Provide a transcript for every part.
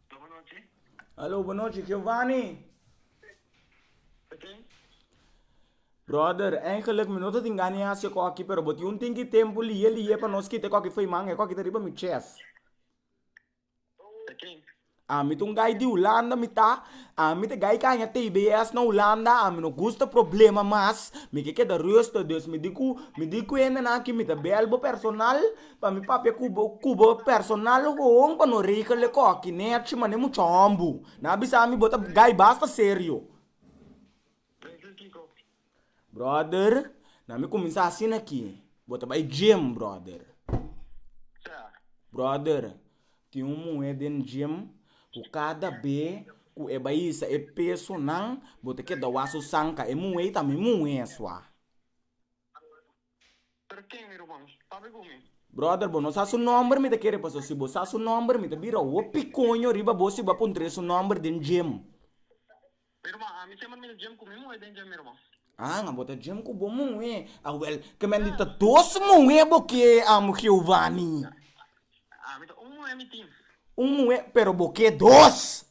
Alo bo nochi. Alo bo nochi Giovanni. Tin. Brother, eigenlijk mi no ta tin gana di hasi okoki pero bo tin un tin ki tempo liye liye pa nos kite koki fey man e koki ta riba mi chest. Ta ken? Ami ta un guy di Hulanda mi ta ami ta guy kaña tbs na Hulanda ami no gusta problema mas mi ke keda ruster dus mi di ku mi di ku hende nan aki mi ta bel bo personal pa mi papia ku bo ku bo personal hoon pa no regel ekoki nèt shi manera mucha hòmber na bisa mi bo ta guy basta serio. Brother, na mi cuminsa asina aki. Bo ta bay gym, brother. Brother, tin un muhé den gym cu cada be cu e bay isa e pesonan, bo ta keda wak su sanka. E muhé ei ta mi muhé sua. Pero ken mi robá mi? Pabia ku mi? Brother bo no sa su nomber mi ta kere paso si bo sa su nomber mi ta bira ho pikoño riba bo si bo a puntre su nomber den djem. Mi robá ami semper mi ta djem ku mi muhe den djem mi robá. Haan a bo ta djem ku bo muhe a wel kemen di ta dos muhe bo ke amo Geovani. Ami ta un muhe mi tin. Un muhe pero bo ke dos.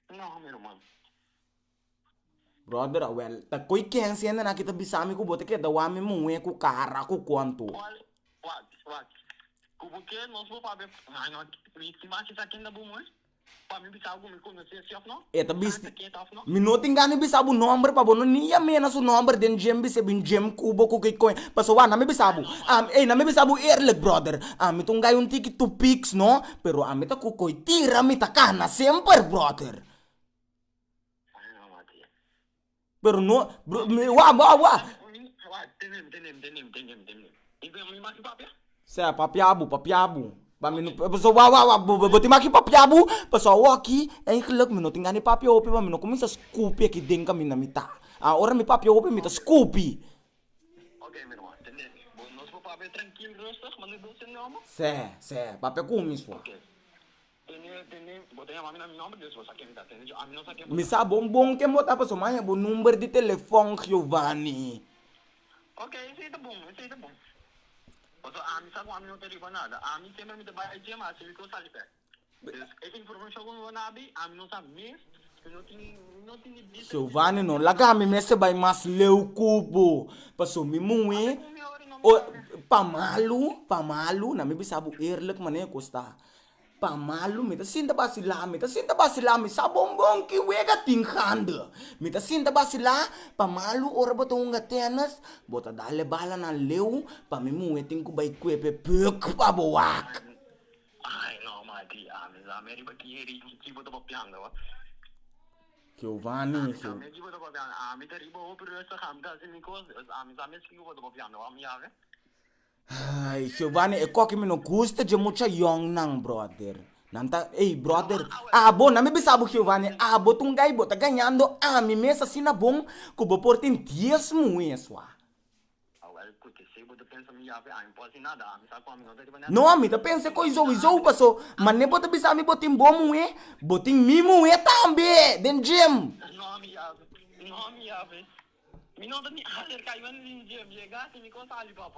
No mi robá. Brother a welta koe ken sende nan ki ta bisami ku bo ta keda wami muhe ku kara ku kontu. Wal wak wak ku bo ke nos bo papia ha no mi mi ba kisa kenda bo muhe pa mi bisa bo ku mi konos'e si of no E ta bisti sa ta keda of no. mi no tin gana di bisa bo nomber pa bo no ni a mena su nomber den djem bis'e bin djem ku bo ku ke koe paso wak nan mi bisa bo am ey nan mi bisa bo eerlik brother ami ta un gai un tiki tupiks no pero ami ta ku koe tira mi ta kana semper brother. Pero no wak wak wak. Sea papia bo papia bo paso wak wak wak bo tin maki papia bo paso awoki ei glak mi no tin gana di papia hopi wan mi no kuminsa skupi aki den kaminda mi ta a ora mi papia hopi mi ta skupi se se papia kumis wan. Mi sa bon bon ken bo ta pasobra mi a haya bo number di telefòn, Giovanni. Giovanni, no laga mi mester bai mas leu ku bo, pasobra mi muhé, pa malu, pa malu, na mi bisa bo eerlijk mané ku ta. Pa malu mi ta sinta basilá, mi ta sinta basilá, mi sa bon bon ki wega tin hande. Mi ta sinta basilá, pa malu ora bo ta hunga tenis, bo ta dale balanan leu, pa mi muhe tin ku bai kuepe puk pa bo wak. Ai, no mati, ami sa me riba ki heri i ki bo ta papianga ba. Giovanni, Ami sa me ki bo ta papianga, ami ta riba hopi rustig, ami ta hasi mi kos, ami sa mes ki ku bo ta papianga ba, mi yabe. Ay, Jehová ne e kos ke mi no gusta dje mucha yònnan, bròder. Nan ta, Ey, bròder, abo, nan mi bisa bo Jehová ne, abo ta un gai, bo ta gañando ami mes asina bon ku bo por tin dies muhes, wak. Awor kute si bo ta pensa mi yape ami por sin nada? Ami sa ku ami no ta riba nada. No, mi ta pensa e kos izou izou paso mane bo ta bisa mi bo tin bo muhe, bo tin mi muhe tambe den djem. No, mi yape. No, mi yape. Mi no ta ni aserka iba ni den djem. Yega si mi kon sali, papa.